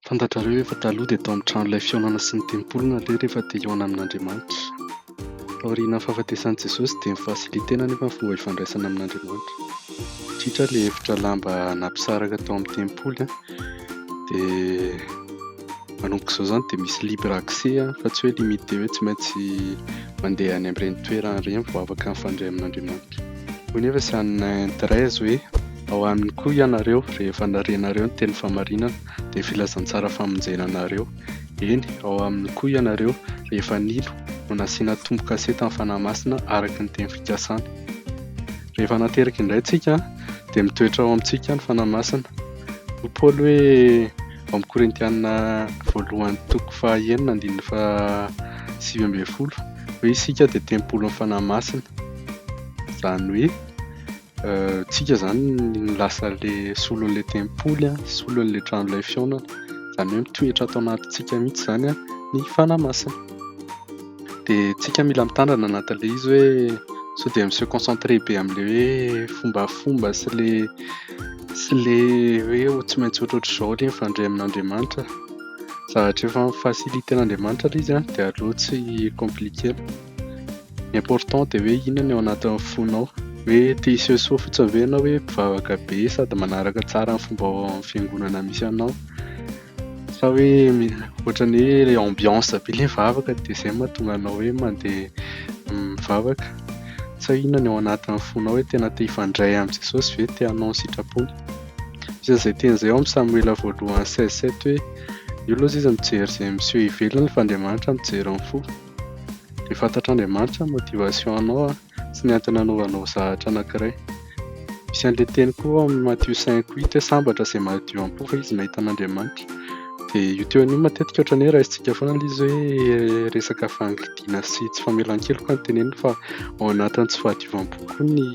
Fantatrareo ve fa taloha dia tao amin'ny trano ilay fihaonana sy ny tempoly no aleha rehefa te hihaona amin'Andriamanitra? Taorianan'ny fahafatesan'i Jesosy dia nifasilitena anefa ny fomba ifandraisana amin'Andriamanitra. Indrindra ilay efitra lamba nampisaraka tao amin'ny tempoly dia manomboka izao izany dia misy libre accès fa tsy hoe limité hoe tsy maintsy mandeha any amin'ireny toerana ireny vao afaka mifandray amin'Andriamanitra. Hoy anefa i Sann Andreas hoe. Ao aminy koa ianareo rehefa narenareo ny teny famarinana dia filazantsara famonjena anareo. Eny, ao aminy koa ianareo rehefa nino no nasiana tombo-kase tamin'ny Fanahy Masina araka ny teny fikasany. Rehefa nateraka indray tsika dia mitoetra ao amintsika ny Fanahy Masina. Hoy Paoly hoe ao amin'ny Korintiana voalohany toko faha enina andininy faha sivy ambin'ny folo hoe isika dia tempolin'ny Fanahy Masina. Izany hoe tsika izany ny lasa le solon'le tempoly an, solon'le tranolay fihaonana, izany hoe mitoetra ato anatintsika mihitsy izany an ny fanahy masina. Dia tsika mila mitandrina anatin'le izy hoe sao dia mi-se concentrer be amle hoe fombafomba sy le sy le hoe ho tsy maintsy ohatrohatr'izao le mifandray amin'Andriamanitra, zavatra efa mi-faciliter an'Andriamanitra le izy an dia aleo tsy compliquer. Ny important dia hoe inona ny ao anatin'ny fonao. Hoe te hiseho soa fotsiny ve ianao hoe mpivavaka be sady manaraka tsara ny fomba ao amin'ny fiangonana misy anao? Sa hoe ohatran'ny hoe ilay ambiance be ilay vavaka dia izay no mahatonga anao hoe mandeha mivavaka? Sa inona ny ao anatin'ny fonao hoe tena te hifandray amin'i Jesosy ve? Te hanao ny sitrapony? Misy an'izay teny izay ao amin'ny Samoela voalohany seize sept hoe, Io aloha izy mijery izay miseho ivelany fa Andriamanitra mijery ny fo. Dia fantatr'Andriamanitra ny motivation-nao sy ny antony anaovanao zahatra anankiray. Misy an'ilay teny koa ao amin'ny Matthieu cinq huit hoe sambatra izay madio am-po fa izy mahita an'Andriamanitra. Dia io teony io matetika ohatran'ny hoe raisintsika foana ilay izy hoe resaka fangidina sy tsy famelan-keloka no teneniny fa ao anatin'ny tsy fahadiovam-po koa ny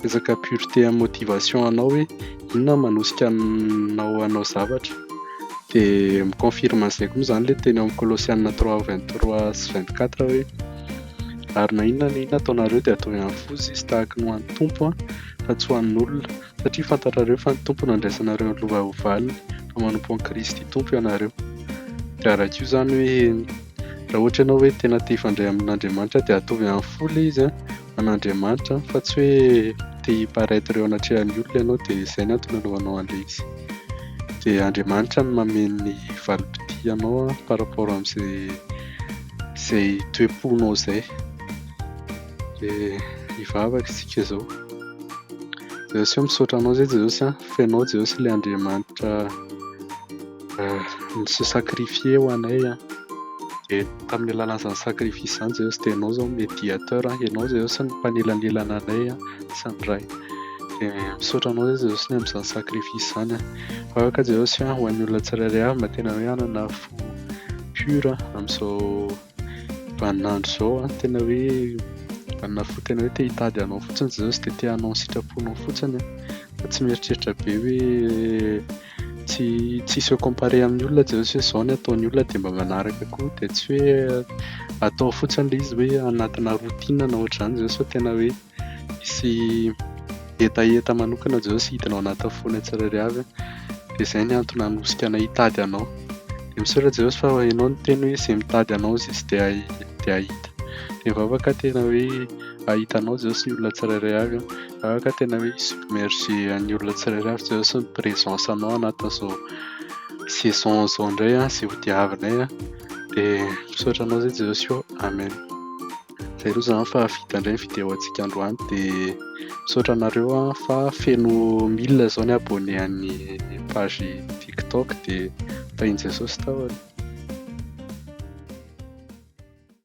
resaka pureté amin'ny motivation-nao hoe Inona no manosika anao hanao zavatra? Dia mi-confirme an'izay koa moa izany ilay teny ao amin'ny Kolosiana trois, vingt trois sy vingt quatre hoe, Ary na inona na inona ataonareo dia ataovy amin'ny foza izy tahaka ny ho an'ny Tompo fa tsy ho an'olona, satria fantatrareo fa ny Tompo no andraisanareo ny lova ho valiny, fa manompo an'i Kristy Tompo ianareo. Dia araka io izany hoe raha ohatra ianao hoe tena te hifandray amin'Andriamanitra dia ataovy amin'ny fo ilay izy an! an'Andriamanitra fa tsy hoe te hi-paraitre eo anatrehan'ny olona ianao dia izay no antony anaovanao an'ilay izy. Dia Andriamanitra no mamehy ny valim-pitia anao par rapport amin'izay izay toe-ponao izay. Dia hivavaka isika izao. Jesosy misaotra anao izay Jesosy an, fa ianao Jesosy ilay Andriamanitra Nisy sacrifier ho anay an, dia tamin'ny alalan'izany sacrifice izany Jesosy dia ianao izao no mediateur, ianao Jesosy no mpanelanelana anay sy ny Ray. Dia misaotra anao Jesosy ny amin'izany sacrifice izany an. Aoka Jesosy an ho an'ny olona tsirairay avy mba tena hoe hanana fo pure amin'izao. Vaninandro izao an, tena hoe vanina fo tena hoe te hitady anao fotsiny izay izy dia te hanao ny sitraponao fotsiny fa tsy mieritreritra be hoe tsy tsy se comparer amin'ny olona izay hoe izao ny ataon'ny olona dia mba manaraka koa dia tsy hoe atao fotsiny ilay izy hoe anatina routine na ohatr'izany izay sao tena hoe hisy hetaheta manokana izao sy hidina ao anatin'ny fonay tsirairay avy dia izay ny antony hanosika anay hitady anao dia misaotra Jeosy fa ianao no niteny hoe izay mitady anao izy izy dia dia hahita dia vavaka tena hoe hahita anao Jeosy ny olona tsirairay avy vavaka tena hoe submerger an'ny olona tsirairay avy Jeosy ny présence anao anatin'izao saison izao indray izay hodiavinay dia misaotra anao izay Jeosy ô Amen Zay aloha zany fa vita indray ny vidéo antsika androany dia misaotra anareo an fa feno mille zao ny abonné an'ny page tiktok dia tahin'i Jesosy tahony.